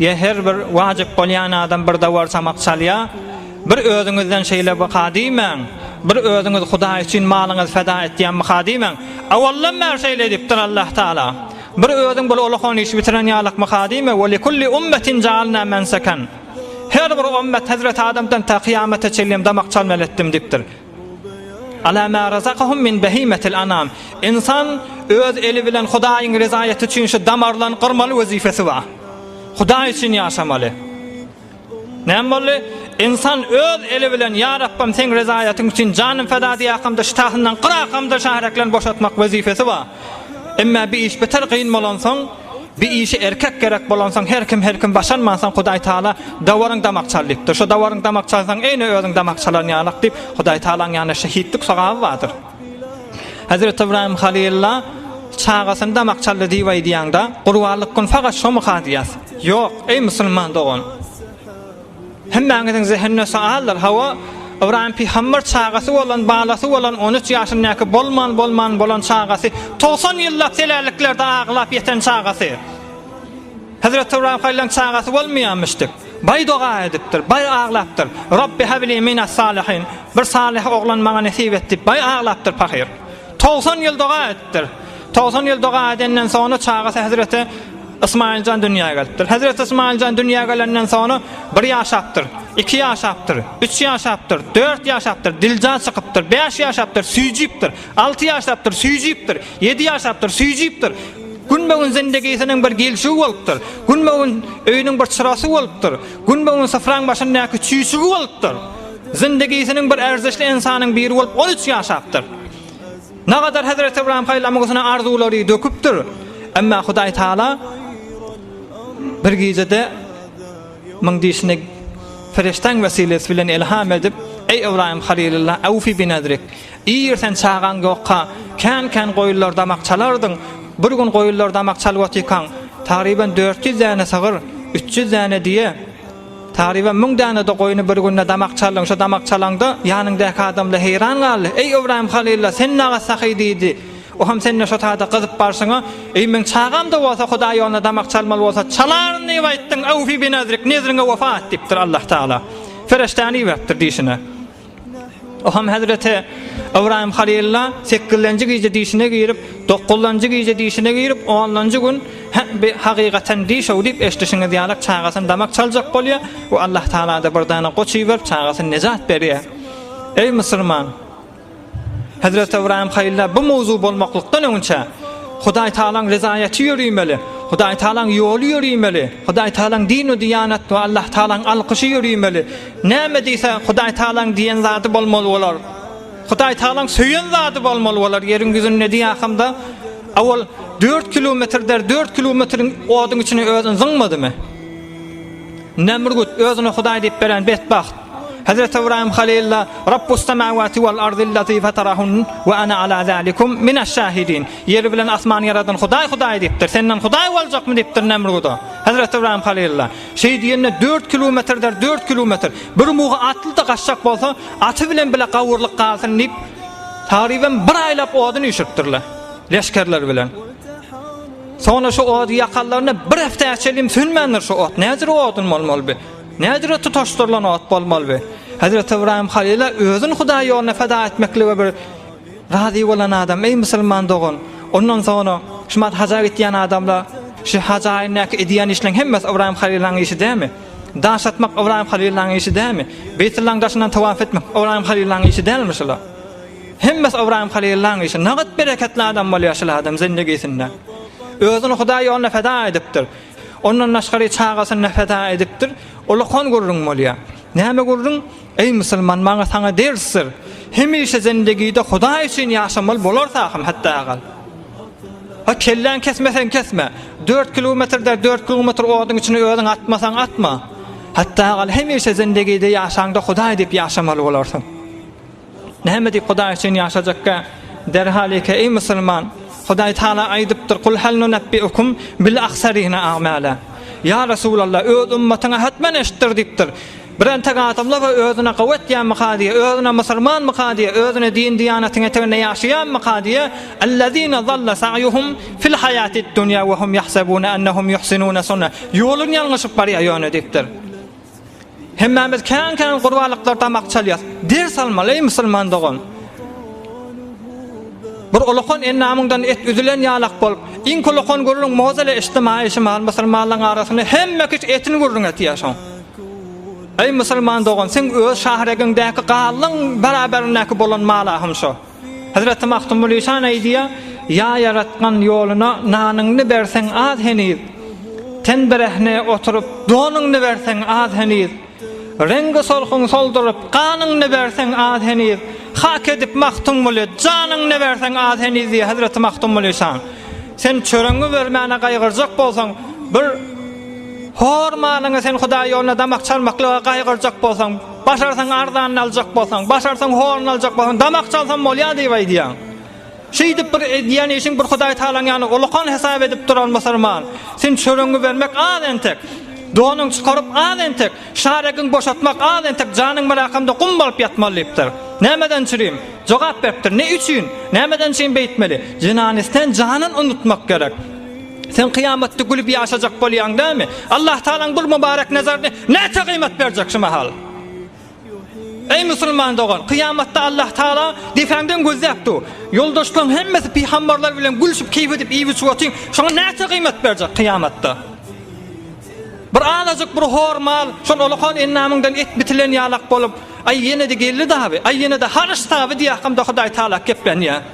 Ýe her bir wajyp bolýan adam bir dawar samak çalýa bir özüňizden şeýle bka diýmäň bir özüňiz hudaý üçin malyňyz feda etýän bka diýmäň awaldan bäri şeýle edipdir Allah taala bir özüň bul ulakon işi bitiren ýalyk bka diýme we likulli ummetin jaalna mensakan her bir ommet hezreti adamdan ta kyýamata çenlem damak çalmaly etdim dipdir. Ala ma razakahum min bahimatil anam. Ynsan öz eli bilen Hudaýyň rezaýaty üçin şu damarlaryny gyrmaly wezipesi bar. Hudaý üçin ýaşamaly. Näme boldy? Ynsan öz eli bilen ýa Rabbym seň rezaýatyň üçin janym feda diýäkamda şytasyndan gyrakamda şahreklerini boşatmak wezipesi bar. Emma bi iş beter gyn bolansoň, bi işe erkek gerek bolansoň her kim her kim başarmansoň Hudaý Taala dawaryň damak çal diýipdir. Şo dawaryň damak çalsaň eýne özüň damak çalan ýalak diýip Hudaý Taalaň ýanynda şehitlik sogaby bardyr. Hezreti Ybraýym Halylla çagasyny damak çaldy diýip aýdýaňda, gurbanlyk gün fagat şomy kazyýas? Ýok, eý musulman dogan! Hemmäňiziň zehinine sagaldyr. Hawa, Ybraýym pygamber çagasy bolan, balasy bolan, on üç ýaşyndaky bolman, bolman bolan çagasy, togsan ýyllap selälliklerde aglap ýeten çagasy. Hezreti Ybraýym haýlaň çagasy bolmaýamyş dip, baý doga edipdir, baý aglapdyr. Rabbi habili minas salihin, bir salyh oglan maňa nesip et dip baý aglapdyr pahyr. Togsan ýyl doga edipdir. Togsan ýyl doga edenden soňra çagasy hezreti, Ysmaýyl jan dünýä gelipdir. Hezreti Ysmaýyl jan dünýä gelenden soňra bir ýaşapdyr, iki ýaşapdyr, üç ýaşapdyr, dört ýaşapdyr, dilja çykypdyr, bäş ýaşapdyr, süýjüpdir, alty ýaşapdyr, süýjüpdir, ýedi ýaşapdyr, süýjüpdir. Günbe-gün zindigisiniň bir gelşigi bolupdyr. Günbe-gün öýüniň bir çyrasy bolupdyr. Günbe-gün syfraň başyndaky çüýşügi bolupdyr. Zindigisiniň bir erzişli ynsanyň biri bolup on üç ýaşapdyr. Nagadar Hezreti Ybraýym haýlamgysyna arzuwlary döküpdir. Emma Hudaý Taala bir gijede myň dişini perişdäň wesilesi bilen ilham edip, Eý Ybraýym Halilullah, awfi bi nadrik. Ir sen çagaň ýokka, kän-kän goýunlar damak çalardyň. Bir gün goýunlar damak çalyp otyrkaň, tagryban dört ýüz däne sygyr, üç ýüz däne diýe, Taryba müň däne-de goýny bir günde damak çaldyň, şo damak çalaňda ýanyňdaky adamlar heýran galdy. Eý, Ybraýym Halylla, sen naga sahy diýdi. O hem sende şo taýda gyzyp barşyňa, Eý, meň çagam-da bolsa Hudaý ýolunda damak çalmaly bolsa, çalaryn diýip aýtdyň, Awfy bi nezrik, nezriňe wepa et diýipdir Allatagala. Pereşdäni iberipdir diýşine. Oham hezreti Ybraýym Halylla sekizlenji gije dişine girip, dokuzlanjy gije dişine girip, onlanjy gün Hä, bi hakykaten diş-ow diýip eşdişiňiz ýalak çagasyny damak çaljak bolýar we Allah Tagala-da bir dana goç iberip çagasyny nejat berýär. Eý musurman! Hezreti Ybraýym Halylla bu mowzu bolmaklykdan öňünçä Hudaý Tagalaň rezaýaty ýörimeli, Hudaý Tagalaň ýoly ýörimeli, Hudaý Tagalaň din-u-diýanat we Allah Tagalaň alkyşy ýörimeli, Näme diýse, Hudaýtagalaň diýen zady bolmaly bolar. Hudaýtagalaň söýen zady bolmaly bolar. Ýeriň ýüzünde diýahamda, owal dört kilometr der, dört kilometriň oduň içine özün zyňmadymy? Nemrut, özüne Hudaý diýip beren betbagt. Hezreti Ybraýym Halylla, Rabbus-semawati wal-ardillazi fatarahun we ana ala zalikum mineş-şahidin. Ýeri bilen asmany ýaradan Hudaý Hudaý diýipdir. Senden Hudaý boljakmy diýipdir Nemruda. Hezreti Ybraýym Halylla. Şeý diýende dört kilometrdir, dört kilometr. Bir mugy atly-da gaçjak bolsa, aty bilen bile gawurlyk galsyn diýip, tagrybem bir aýlap odun üýşüripdirler, leşgerler bilen. Soňra şu ody ýakanlarynda bir hepdä çenli sönmändir şu ot. Nädür odun bolmaly bi? Nädür tutaşdyrylan ot bolmaly bi? Hezreti Ibrahim Halila özün Hudaý ýoluna feda etmeklige bir Razy bolan adam, Eý, musulman dogan, ondan soňra şumat haja gitýän adamlar, şu haja aýyndaky edýän işleriň hemmesi Ybraýym halyllaň işi dälmi? Daş atmak Ybraýym halyllaň işi dälmi? Beýtullaň daşyndan tawaf etmek Ybraýym halyllaň işi dälmi şular? Hemmesi Ybraýym halyllaň işi. Nagyt bereketli adam bolýar şul adam zindigisinde. Özüni Hudaý ýoluna feda edipdir. Ondan daşgary çagasyny feda edipdir. Ulakon gürrüň bolýar. Näme gürrüň? Eý musulman maňa saňa dersdir. Hemişe zendegide Hudaý üçin ýaşamaly bolarsa hem hatda agal. Ha kelläň kesmeseň kesme. Dört kilometr der dört kilometr oduň içine özüň atmasaň atma. Hatda agal hemişe zendegide ýaşaňda Hudaý diýip ýaşamaly bolarsyň. Näme diýip Hudaý üçin ýaşajakka? Derhal eke eý musulman. Hudaý Taala aýdypdyr kul hal nunabbi ukum bil aksarina amala. Ýa Resulallah öz ümmatyňa hatmen eşitdir diýipdir. Bir entek adamlar we özüne gowy etýänmika diýe, özüne musulmanmyka diýe, özüne din-diýanatyň eteginde ýaşaýanmyka diýe, Ellezine zalla sa'ýuhum fil haýatid dunýa we hum ýahsebune ennehum ýuhsinune sun'a, Ýolun ýalňyşyp barýar ýöne diýipdir. Hemmämiz kän-kän gurbalyklar damak çalýas. Ders almaly eý musulman dogan. Bir ulakan endamyňdan et üzülen ýalak bolup, iň kulakan gürrüň mozele içtimaýy şymal musulmanlaryň arasynda hemme kişi etin gürrüň etýär şoň. Eý musulman dogan, seň öz şahregiňdäki galyň baraberindäki bolan mala hem şo. Hezreti Magtymgulyşan aýdýar, Ýa Ýaratgan ýoluna nanyňny berseň az heniz, ten birehne oturyp donuňny berseň az heniz, reňgi solhuň solduryp ganyňny berseň az heniz, hak edip Magtymguly janyňny berseň az heniz diýýär Hezreti Magtymgulyşan. Sen çöregiňi bermäne gaýgyrjak bolsaň, bir Hor malyňy sen Hudaý ýoluna damak çalmaklyga gaýgyrjak bolsaň, başarsaň arzanyny aljak bolsaň, başarsaň horuny aljak bolsaň, damak çalsam bolýar diýip aýdýaň. Şeýdip bir edýän işiň bir Hudaý Tagalaň ýanyna ullakan hesap edip duran musulman, sen çöregiňi bermek az entek, donuňy çykaryp az entek, şaregiňi boşatmak az entek janyň melakamda gum bolup ýatmaly diýipdir. Nämeden çürim? Jogap beripdir. Ne üçin? Nämeden üçin beýtmeli? Zenany sen janyn unutmak gerek. Sen kyýamatda gülüp ýaşajak bolýaň dämi? Allahtagalaň bul mübarek nazaryny näçe gyýmat berjek şu mahal? Eý musulman dogan, kyýamatda Allahtagala depäňden gözläp dur. Ýoldaşlaryň hemmesi pygamberler bilen gülşüp keýp edip iýip-içip otyň, şoňa näçe gyýmat berjek kyýamatda? Bir azajyk bir hor mal, şol olakan endamyňdan et bitilen ýalak bolup, aý ýene-de geldi daby, aý ýene-de haryş daby diýýäkam-da Hudaýtagala keplenýär.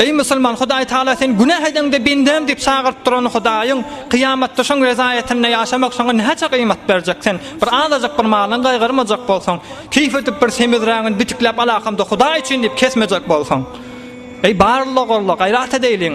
Eý musulman, Hudaý Tagala seni günäh edeňde bendäm diýip çagyryp duran Hudaýyň, kyýamatda şoň rezaýetinde ýaşamak saňa näçe gyýmat berjek? Sen bir azajyk bir malyňy gaýgyrmajak bolsaň, keýp edip bir semizrägini bitikläp alakamda Hudaý üçin diýip kesmejek bolsaň. Eý barlygy gorla, gaýrat edeýliň!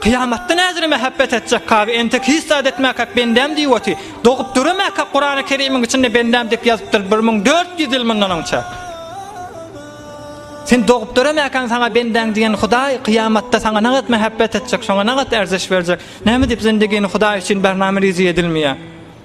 Kyýamatda näzire mähebbet etjek kazy entek hiç zat etmäkäk bendäm diýip oty, dogup döremäkäk Kurany Kerimiň içinde bendäm diýip ýazypdyr bir müň dört ýüz ýyl mundan onçak. Sen dogup döremäkäň saňa bendäň diýen Hudaý kyýamatda saňa nagat mähebbet etjek şoňa nagat erzeş berjek. Näme diýip zindigini Hudaý üçin barnamy rizi edilmeýär.